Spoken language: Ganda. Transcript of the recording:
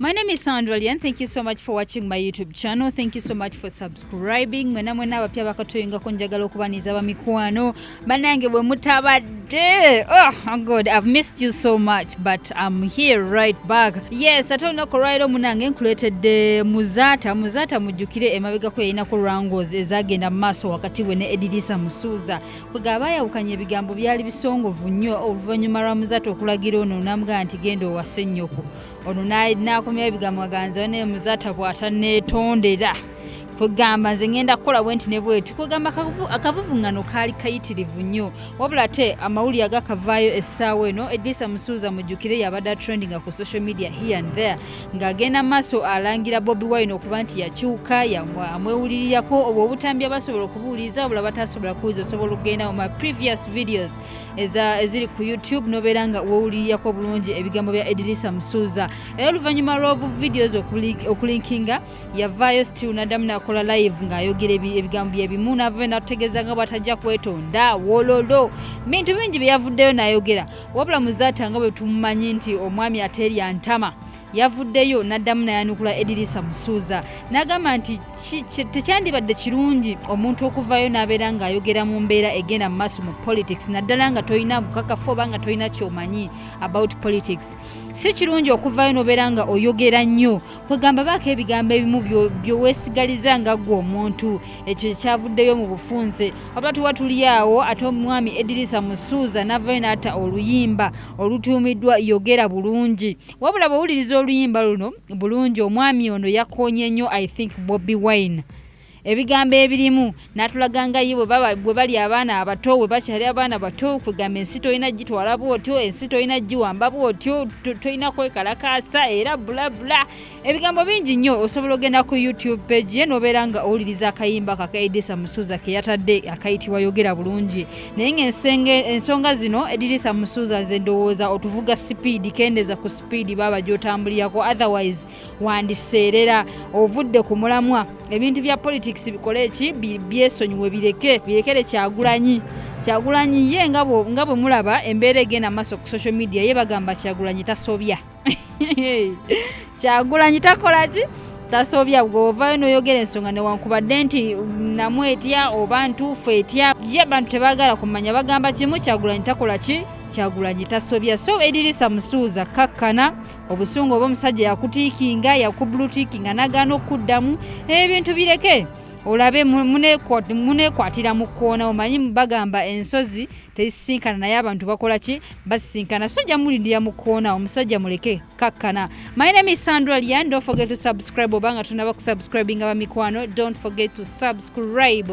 My name is Sandra Lian. Thank you so much for watching my YouTube channel. Thank you so much for subscribing. Mwena mwena abapya bakatoyinga ko njagala okubaniza ba mikwano. Banange bwe mutabadde. Oh God, I've missed you so much but I'm here right back. Yes, ate olunaku olwaliro munange nkuleetedde Muzaata. Muzaata mujjukire emabega ko yalina ku Rangos ezagenda mu maaso wakati we ne Edirisa Musuuza. Bwega abayawukanya ebigambo byali bisongovu nnyo oluvannyuma lwa Muzaata okulagira ono n'amugamba nti genda owase nnyoko. ono n'akomyawo ebigambo aganza banaye muzata bwatanetondera kugamba nze ngenda kukola bwenti ne bweti kugamba akavuvungano kaali kayitirivu nnyo wabula ate amawulire agakavaayo essaawa eno edisa musuuza mujjukire yabadde atrendinga ku social media here and there ng'agenda maaso alangira bobi wine okuba nti yakyuka amwewulirirako obwo obutambi abasobola okubuuliza wabula batasobola kuwuliza osobola okugenda mu ma previous videos eziri ku youtube nobeera nga wowulirirako bulungi ebigambo bya edirisa musuuza era oluvannyuma lw'obu videos okulinkinga yavaayo still naddamu nakola live ng'ayogera ebigambo byebimu navayo natutegeeza nga bwatajja kwetonda wololo bintu bingi byeyavuddeyo nayogera wabula muzaata nga bwe tumumanyi nti omwami ateerya ntama yavuddeyo n'addamu nayanukula edirisa musuuza n'agamba nti tekyandibadde kirungi omuntu okuvaayo n'abeera ng'ayogera mu mbeera egenda mu maaso mu politics naddala nga tolina bukakafu oba nga tolina kyomanyi about politics si kirungi okuvaayo n'obeera nga oyogera nnyo kwegamba baako ebigambo ebimu byoweesigaliza nga ggwe omuntu ekyo kyavuddeyo mu bufunze wabula tuba tuli awo ate omwami edirisa musuuza n'avaayo n'ata oluyimba olutuumiddwa yogera bulungi wabula bwowuliriza oluyimba luno bulungi omwami ono yakonye nnyo i think bobi wine ebigambo ebirimu natulaga nga ye bwe bali abaana abato bwe bakyali abaana bato kwegamba ensi tolina gitwala bwotyo ensi tolina giwamba bwotyo tolina kwekalakaasa era bulabula ebigambo bingi nnyo osobola ogenda ku youtube page ye nobeera nga owuliriza akayimba kaka edisa musuza keyatadde akayitibwa yogera bulungi naye ng'ensenge ensonga zino edirisa musuuza nze ndowooza otuvuga sipiidi kendeza ku sipiidi baaba gyotambulirako otherwise wandiseerera ovudde ku mulamwa ebintu bya politics bikole eki byesonyiwe bireke birekere kyagulanyi kyagulanyi ye nga bwe mulaba embeera egenda maaso ku social media ye bagamba kyagulanyi tasobya kyagulanyi takola ki tasobya gweovayo noyogera ensonga newankubadde nti namu etya oba ntuufu etya ye abantu tebagala kumanya bagamba kimu kyagulanyi takola ki kyagulanyi tasobya so edirisa musuuza kakkana obusungu oba omusajja yakutiikinga yakubulutiikinga nagaana okukuddamu ebintu bireke olabe munekwatira mu kkoona omanyi bagamba ensozi tezisinkana naye abantu bakola ki basisinkana so nja mulindira mu koona omusajja muleke kakkana my name is sandra lian don't forget to subscribe obanga tunaba kusubscribinga bamikwano don't forget to subscribe